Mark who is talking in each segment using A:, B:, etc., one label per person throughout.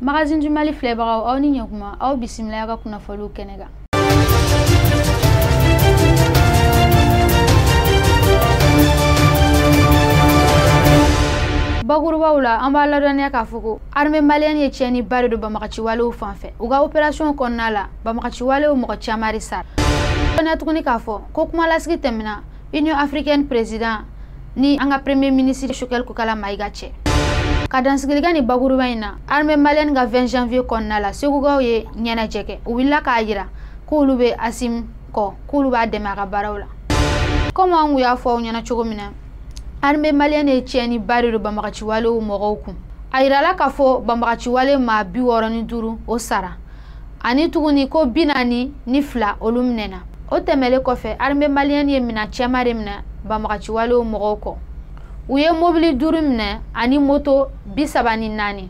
A: magazine du mali filɛbagaw aw ni ɲɛkuma aw bisimila an ka kunnafoliw kɛnɛ kan bakurubaw la an b'a ladɔnniya k'a fɔ ko armée malienne ye tiɲɛni ba de don banbagaciwalew fan fɛ u ka operasiyɔn kɔnɔna la banbagaciwalew mɔgɔ caman de sara dɔnniya tuguni k'a fɔ ko kumalasigi tɛmɛna union africaine président ni an ka premier ministre shogɛl kokala mayiga cɛ ka dansigili kɛ nin bakuruba in na armée malienne ka 20 janvier kɔnɔna la segukaw ye ɲɛnajɛ kɛ u wulila k'a yira k'olu bɛ asimi kɔ k'olu b'a dɛmɛ a ka baaraw la komi an kun y'a fɔ aw ɲɛna cogo min na armée malienne ye tiɲɛni ba de don banbagaciwalew mɔgɔw kun a yirala k'a fɔ banbagaciwale maa bi wɔɔrɔ ni duuru o sara ani tuguni ko bi naani ni fila olu minɛna o tɛmɛlen kɔfɛ armée malienne ye mina caman de minɛ banbagaciwalew mɔgɔw kɔ u ye mobili duuru minɛ ani moto bi saba ni naani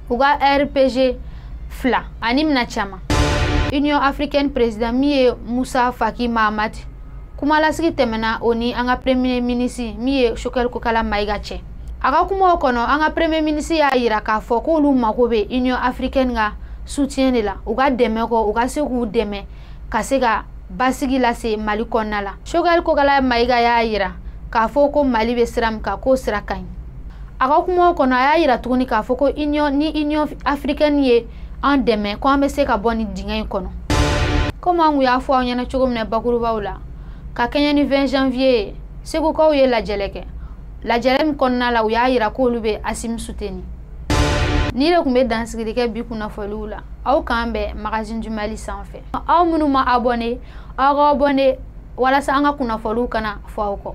A: u ka rpg fila ani mina caman union africaine président min ye musa faki mahamati kumalasigi tɛmɛna o ni an ka premier ministre min ye shogɛl kokala mayiga cɛ a ka kumaw kɔnɔ an ka premier ministre y'a yira k'a fɔ k'olu mago bɛ union africaine ka soutien de la u ka dɛmɛ kɔ u ka se k'u dɛmɛ ka se ka basigi lase mali kɔnɔna la shogɛl kokala mayiga y'a yira k'a fɔ ko mali bɛ sira min kan k'o sira ka ɲi a ka kumaw kɔnɔ a y'a yira tuguni k'a fɔ ko union ni union africaine ye an dɛmɛ ko an bɛ se ka bɔ nin dingɛ in kɔnɔ komi an kun y'a fɔ aw ɲɛna cogo min na bakurubaw la ka kɛɲɛ ni 20 janvier ye segukaw ye lajɛlɛ kɛ lajɛrɛ min kɔnɔna la u y'a yira k'olu bɛ asimi soutenir nin de tun bɛ dansigili kɛ bi kunnafoliw la aw k'an bɛn magazine du mali sanfɛ aw minnu ma abɔne aw ka abɔne walasa an ka kunnafoliw kana fɔ aw kɔ